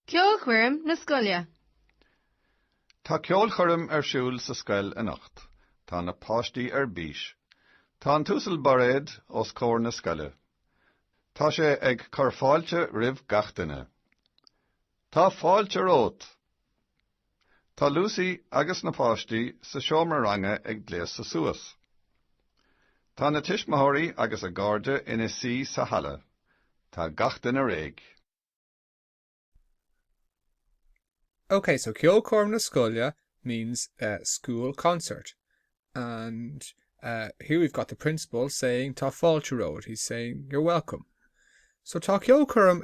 Ceolchoirm na Scoile. Tá ceolchoirm ar siúl sa scoil anocht. Tá na páistí ar bís. Tá an tUasal Bairéad os comhair na scoile. Tá sé ag cur fáilte roimh gach duine. Tá fáilte romhat! Tá Lucy agus na páistí sa seomra ranga ag gléasadh suas. Tá na tuismitheoirí agus a gcairde ina suí sa halla. Tá gach duine réidh. Ok, so ceolchoirm na scoile means eh school concert and eh here we've got the principal saying tá fáilte romhat, he's saying you're welcome. So tá ceolchoirm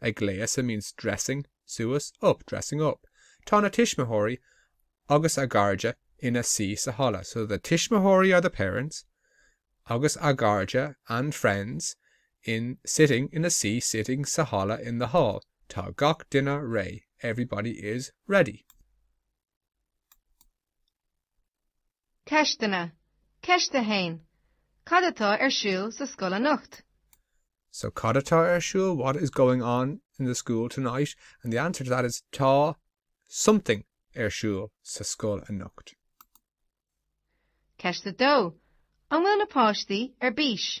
ag gléasadh means dressing, suas, up, dressing up. Tá na tuismitheoirí agus a gcairde ina suí sa halla, so the tuismitheoirí are the parents agus a gcairde and friends in sitting ina suí sitting sa halla in the hall. Tá gach duine réidh, everybody is ready. Ceisteanna, Ceist 1, Cad atá ar siúl sa scoil anocht? So cad atá ar siúl? What is going on in the school tonight? And the answer to that is tá something ar siúl sa scoil anocht. Ceist 2, An bhfuil na páistí ar bís?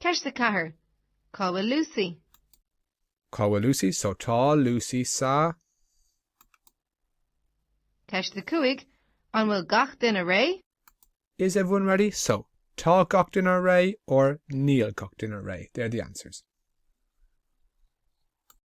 Ceist 4 Cá bhfuil Lucy? Cá bhfuil Lucy? So tá Lucy sa. Ceist 5 An bhfuil gach duine réidh? Is everyone ready? So tá gach duine réidh or níl gach duine réidh. They're the answers.